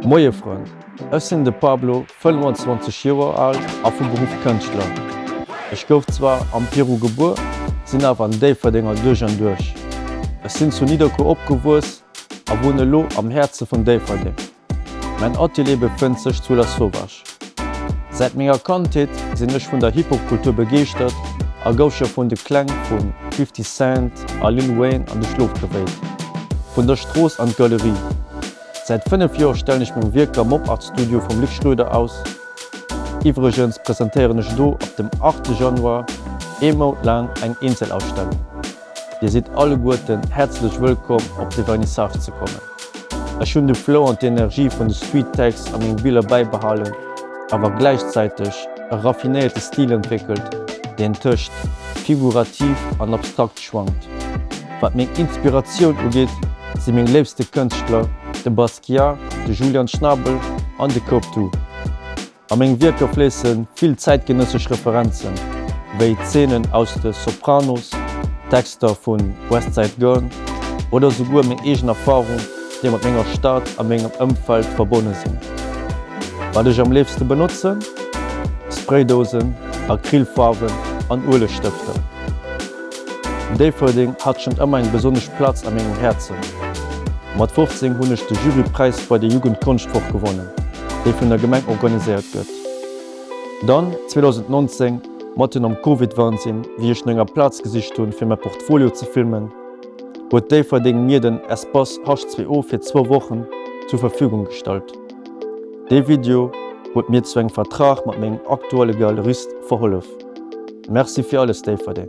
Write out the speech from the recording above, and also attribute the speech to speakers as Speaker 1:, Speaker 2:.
Speaker 1: Moie Frënn, ech sinn de Pablo, 25 Joer al a vu Beruff Kënschtler. Ech gouf zwar am Peru gebuer, sinn awer en Déifferdenger duerch an duerch. Ech sinn zu Nidderkuer opgewuess a wunnen elo am Häerze vun Déifferdeng. Mäin Atelier befënnt sech zu La Sauvage. Säit menger Kandheet sinn ech vun der Hip-Hop-Kultur begeeschtert a gouf scho vun de Kläng vu Fifty Cent a Lil Wayne an de Schlof gewéilt. Vun der Strooss an d'Galerie. Säit 5 Joer stellen ech meng Wierker am Op-Art Studio vum Luc Schroeder aus. Iwwregens presentéieren ech do ab dem 8 Januar ee Mount laang eng Eenzelausstellung. Dir sidd alleguerten häerzlech wëllkomm op de Vernissage ze kommen. Ech hunn de Flow an d'Energie vun de Street Tags a menge Biller bäibehalen, awer gläichzäiteg e raffinéierte Stil entwéckelt, deen tëscht figurativ an abstrakt schwankt. Wat meng Inspiratioun ugeet, si meng léifste Kënschtler de Basquiat, de Julian Schnabel an de Coptu. A meng Wierker fléisse vill zäitgenëssesch Referenzen, wéi Zeenen aus de Sopranos, Texter vu West Side Gun oder souguer meng eegen Erfarung, déi mat menger Stad a mengem Ëmfeld verbonne sinn. Wat ech am léifste benotzen, Spraydousen, Acrylfaarwen an Uelegstëfter. Déifferdeng hat schonn ëmmer eng besonnesch Platz a mengem Häerzen. Mat 15 hunn ech de Jurypräis bei der Jugendkonschtwoch gewonnen, déi vun der Gemeng organiséiert gëtt. Dann 2019, matten am Covid-Wansinn, wéi ech no enger Plaz gesicht hunn, fir mäi Portfolio ze filmen, huet Déifferdeng mir den Espace H2O fir zwou Wochen zur Verfügung gestallt. Dee Video huet mir zu engem Vertrag mat mengem aktuelle Galerist verhollef. Merci fir alles Déifferdeng!